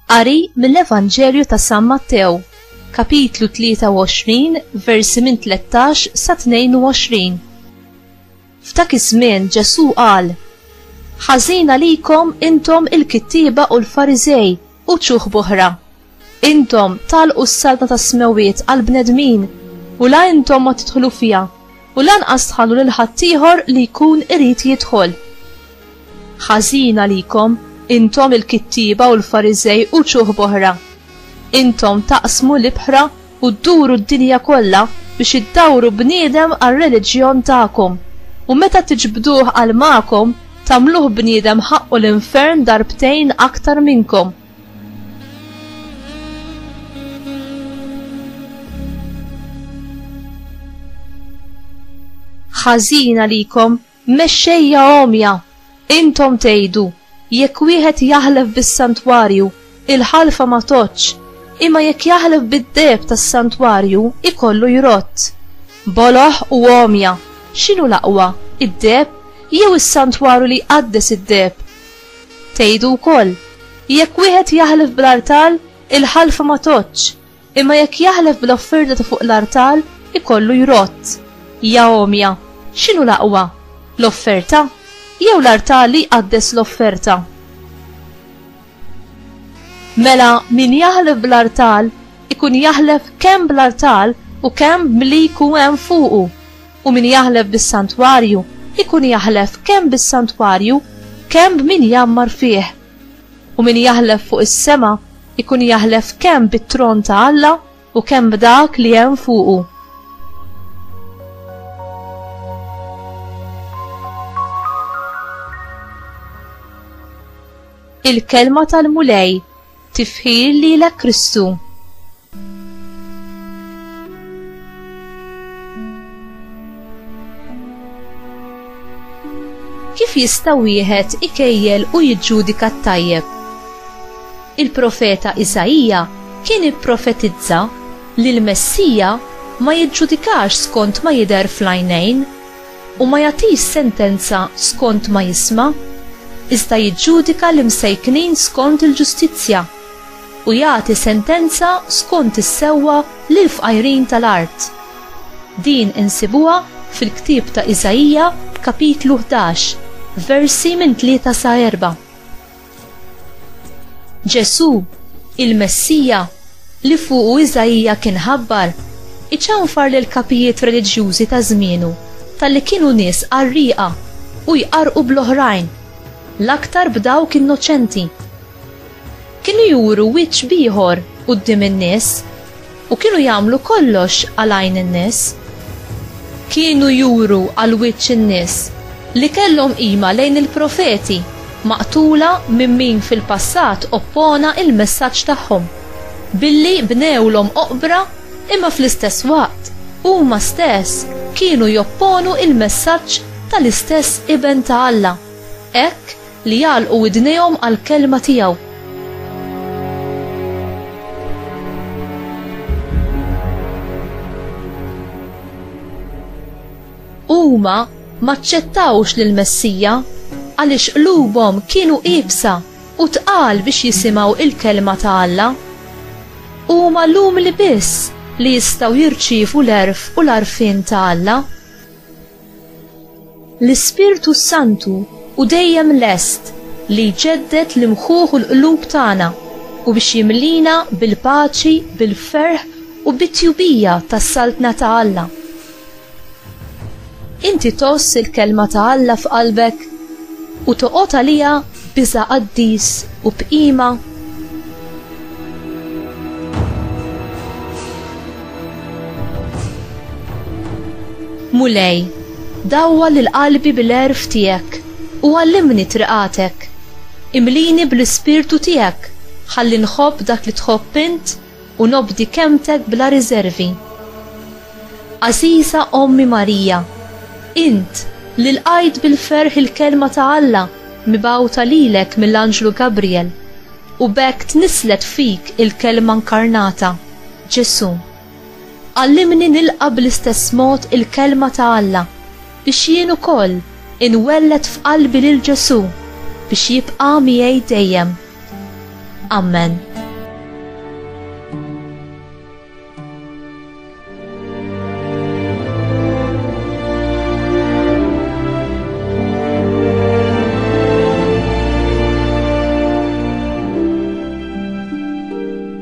Qari mill-Evanġelju ta' San Mattew, kapitlu 23, versi minn 13 sa 22. F'dak iż-żmien Ġesù qal: Ħażina likom intom il-kittieba u l-Fariżej u ċuħ b'oħra. Intom tagħlqu s-saltna tas-smewwiet għall-bnedmin, u la intom ma tidħlu fiha, u lanqas tħallu lil ħaddieħor li jkun irid jidħol. Ħażin għalikom, intom il-kittieba u l-Fariżej u ċuħ b'oħra! Intom taqsmu l-ibħra u dduru d-dinja kollha biex iddawru bniedem għar-reliġjon tagħkom, u meta tiġbduh għal magħkom tagħmluh bniedem ħaqqu l-infern darbtejn aktar minnkom. Ħażin għalikom Mexxejja għomja, intom tgħidu, Jekk wieħed jaħlef bis-santwarju, il-ħalfa ma tgħoddx, imma jekk jaħlef bid-deheb tas-santwarju, ikollu jrodd. Boloh u għomja! X'inhu l-aqwa, id-deheb jew is-santwarju li jqaddes id-deheb? Tgħidu wkoll, Jekk wieħed jaħlef bl-artal, il-ħalfa ma tgħoddx, Imma jekk jaħlef bil-offerta ta' fuq l-artal, ikollu jrodd, Ja għomja, x'inhu l-aqwa, l-offerta, jew l-artal li jqaddes l-offerta? Mela min jaħlef bl-artal, ikun jaħlef kemm bl-artal u kemm b'li jkun hemm fuqu, u min jaħlef bis-santwarju, ikun jaħlef kemm bis-santwarju, kemm b'min jgħammar fih. U min jaħlef fuq is-sema jkun jaħlef kemm bit-tron ta' Alla u kemm b'dak li hemm fuqu. Il-kelma tal-Mulej tifħir lilek Kristu. Kif jista' wieħed ikejjel u jiġġudika t-tajjeb? Il-profeta Isaija kien ipprofetizza li l-Messija ma jiġġudikax skont ma jidher fl-għajnejn u ma jagħtix sentenza skont ma jisma', iżda jiġġudika l-imsejknin skont il-ġustizzja. u jagħti sentenza skont is-sewwa lill-fqajrin tal-art. Din insibuha fil-ktieb ta' Iżaija kapitlu ħdax, versi minn tlieta sa erbgħa. Ġesù, il-Messija li fuqu Iżaija kien ħabbar, iċanfar lill-kapijiet reliġjużi ta' żmienu talli kienu nies qarrieqa u jqarrqu bl-oħrajn, l-aktar b'dawk innoċenti. Kienu juru wiċċ b'ieħor quddiem in-nies u kienu jagħmlu kollox għal għajn in-nies. Kienu juru għal wiċċ in-nies li kellhom qima lejn il-profeti maqtula minn min fil-passat oppona il-messaġġ tagħhom, billi bnewlhom oqbra imma fl-istess waqt huma stess kienu jopponu il-messaġġ tal-istess Iben ta' Alla. Hekk, Li jagħlqu widnejhom għall-kelma tiegħu. Huma maċċettawx lill-Messija għaliex qlubhom kienu iebsa u tqal biex jisimgħu il-kelma ta' Alla. Huma l-umli biss li jistgħu jirċievu l-erf u l-arfin ta' Alla. L-Ispirtu s-Santu hu dejjem lest li jġedded l-imħuħ u l-qlub tagħna u biex jimliena bil-paċi, bil-ferħ u bit-tjubija tas-Saltna ta' Alla. Inti tgħożż il-Kelma ta' Alla f'qalbek u toqgħod għaliha b'iżgħa qaddis u b'qima? Mulej, dawwal lil qalbi bil-għerf tiegħek u għallimni triqatek. Imlini bl-Ispirtu tiegħek ħalli nħobb dak li tħobb int u nobdi kelmtek bla riżervi. Għażiża Ommi Marija, int li lqajt bil-ferħ il-Kelma ta' Alla mibgħuta lilek mill-anġlu Gabriel u b'hekk tnisslet fik il-Kelma nkarnata, Ġesù, għallimni nilqa' bl-istess mod il-Kelma ta' Alla biex jien ukoll inwelled f'qalbi lil Ġesù biex jibqa' miegħi dejjem. Ammen.